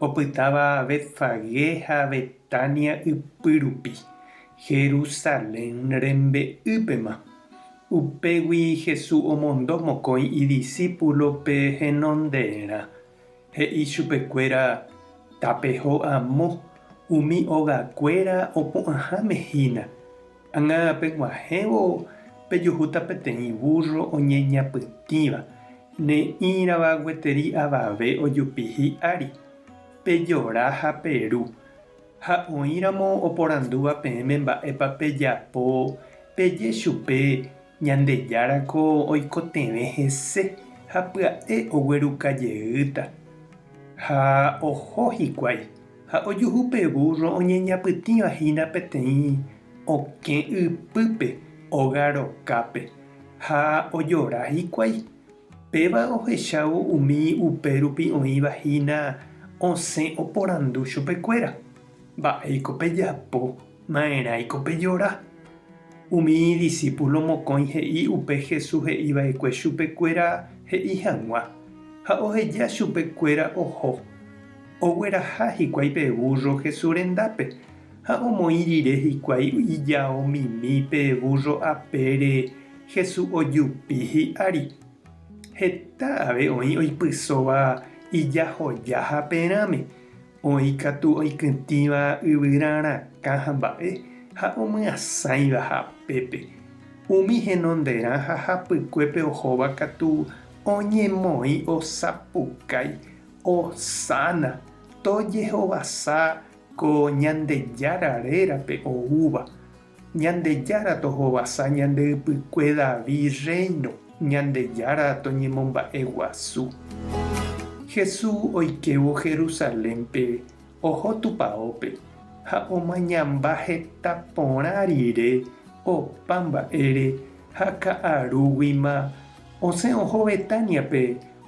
opytáva Betfagé ha Betánia ypy rupi, Jerusalén rembe'ýpema. Upégui Jesús omondo mokõi idisípulope henonderã, he'i chupekuéra, Tapeho amo, umi ogakuéra opu'ãháme hína. Ág̃a peg̃uahẽvo pejuhúta peteĩ vúrro oñeñapytĩva, ne'ĩrava gueteri avave ojupi hi'ári. Pejora ha peru. Ha oĩramo oporandúva peẽme mba'épa pejapo, peje chupe, Ñandejára ko oikotevẽ hese ha pya'e ogueruka jeýta. Ha oho hikuái. Ha ojuhu pe vúrro oñeñapytĩva hína peteĩ okẽ ypýpe óga rokápe, ha ojora hikuái. Péva ohechávo umi upérupi oĩva hína osẽ oporandu chupekuéra, Mba'éiko pejapo? Ma'erãi ko pe jora? Umi idisípulo mokõi he'i upe Jesús he'i va'ekue chupe kuéra he'i hag̃ua, ha oheja chupe kuéra oho. Ogueraha hikuái pe vúrro Jesús rendápe, ha omoĩ rire hikuái ijao mimi pe vúrro apére Jesús ojupi hi'ári. Heta ave oĩ oipysóva ijahoja haperãme. Oĩ katu oikytĩva yvyra rakã ha mba'e ha omyasãiva hapépe. Umi henonderã ha hapykuépe ohóva katu oñemoĩ osapukái, osána, tojehovasa ko Ñandejára rérape oúva. Ñandejára tohovasa ñande ypykue Davi rréino, Ñandejára toñemomba'eguasu. Hesu oikévo Jerusalénpe oho tupaópe ha omañamba heta porã rire opa mba'ére ha ka'arúguima osẽ oho Betániape,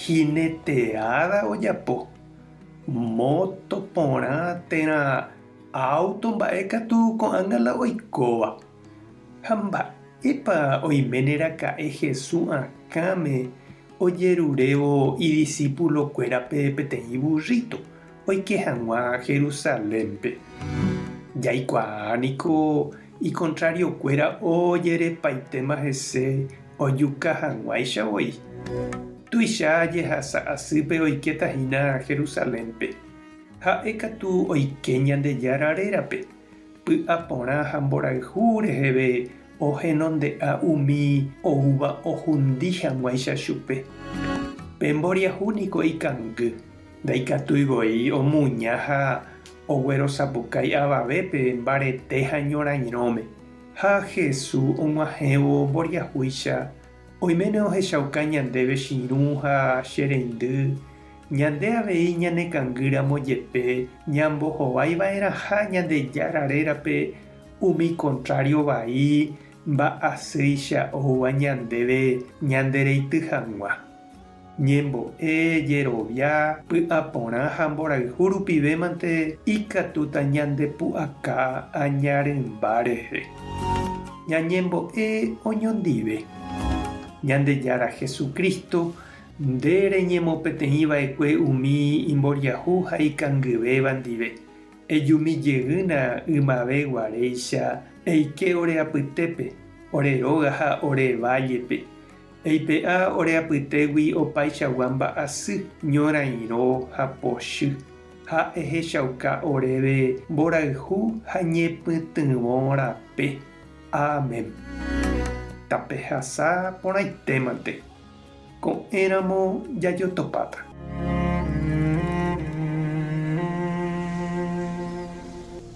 Jineteada ojapo, moto, porã, térã, auto, mba'e katu ko'ág̃a la oikóva. Ha mba'épa oiméne raka'e Hesu akãme ojerurévo idisípulo kuérape peteĩ burrito oike hag̃ua Jerusalénpe? Jaikuaa niko Ikontrariokuéra ojerepaitéma hese ojuka hag̃uáicha voi. Tuicha jehasa asýpe oikéta hína Jerusalénpe. Ha'e katu oike Ñandejára rérape, py'a porã ha mborayhu reheve ohenonde'a umi oúva ohundi hag̃uáicha chupe. Pe mboriahu niko ikangy. Ndaikatúi voi omuña ha oguerosapukái avavépe mbarete ha ñorairõme. Ha Hesu og̃uahẽvo mboriahúicha, oiméne ohechauka ñandéve chirũ ha che reindy, ñande avei ñanekangýramo jepe ñambohovaiva'erãha Ñandejára rérape umi kontrário vai mba'asýicha oúva ñandéve ñandereity hag̃ua. ñembo'e, jerovia, py'aporã ha mborayhu rupivémante ikatúta ñandepu'aka aña rymba rehe. Ñañembo'e oñondive. Ñandejára Jesucristo, nde reñemopeteĩ va'ekue umi imboriahu ha ikangyvéva ndive, ejumi jeýna ymave guaréicha, eike ore apytépe, ore róga ha ore vállepe, Eipe'a ore apytégui opaichagua mba'asy, ñorairõ ha pochy, ha ehechauka oréve mborayhu ha ñepytyvõ rape. Amen. Tapehasa porãitémante. Ko'ẽramo jajotopáta.